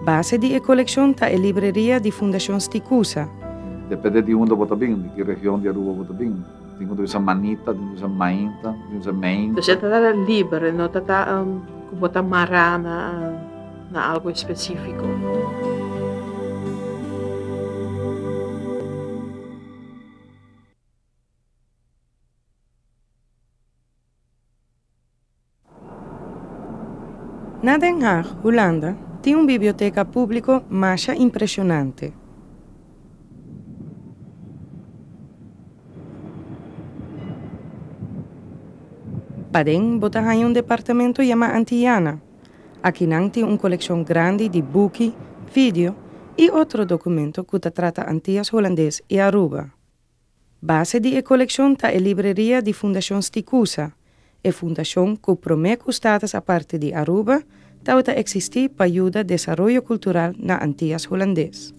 Base di e kolekshon ta e libreria di Fundashon Sticusa. Depende di unda bo ta bini, di ki region di Aruba bo ta bini. Tin ku ta bisa Manita, tin ku ta bisa Mainta, tin ku ta bisa Meinta. Entonces e ta tara libre, no ta ta ku bo ta mara na. na algu espesífiko. Na Den Haag, Hulanda, tin un biblioteka públiko masha impreshonante. Paden bo ta haña un departamento yamá Antiyana, Akinan tin un kolekshon grandi di buki, vidio i otro dokumento ku ta trata Antias Hulandes i Aruba. Base di e kolekshon ta e libreria di Fundashon Sticusa, e fundashon ku promé ku status aparte di Aruba tabata eksistí pa yuda desaroyo kultural na Antias Hulandes.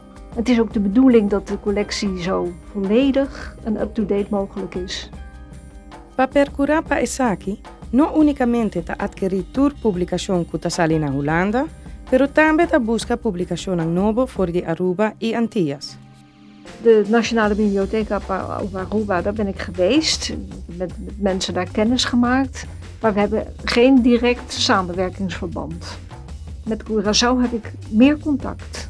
Het is ook de bedoeling dat de collectie zo volledig en up-to-date mogelijk is. Pa percura pa esaki no unicamente ta adquiri tur publicacion cu ta sali na Hulanda, pero tambe ta busca publicacionnan nobo for di Aruba y Antillas. De Nationale Bibliotheek op Aruba, daar ben ik geweest, met mensen daar kennis gemaakt, maar we hebben geen direct samenwerkingsverband. Met Curaçao heb ik meer contact.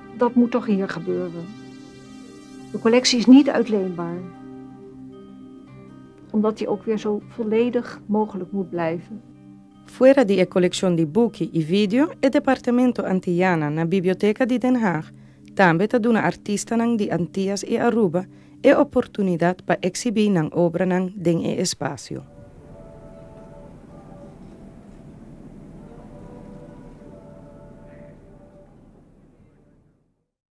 Dat moet toch hier gebeuren. De collectie is niet uitleenbaar, omdat die ook weer zo volledig mogelijk moet blijven. Fuera di e coleccion di buki y video, e Departamento Antillana na Biblioteca di Den Haag tambe ta duna artistanan di Antillas y Aruba e oportunidat pa eksibí nan obranan den e espasio.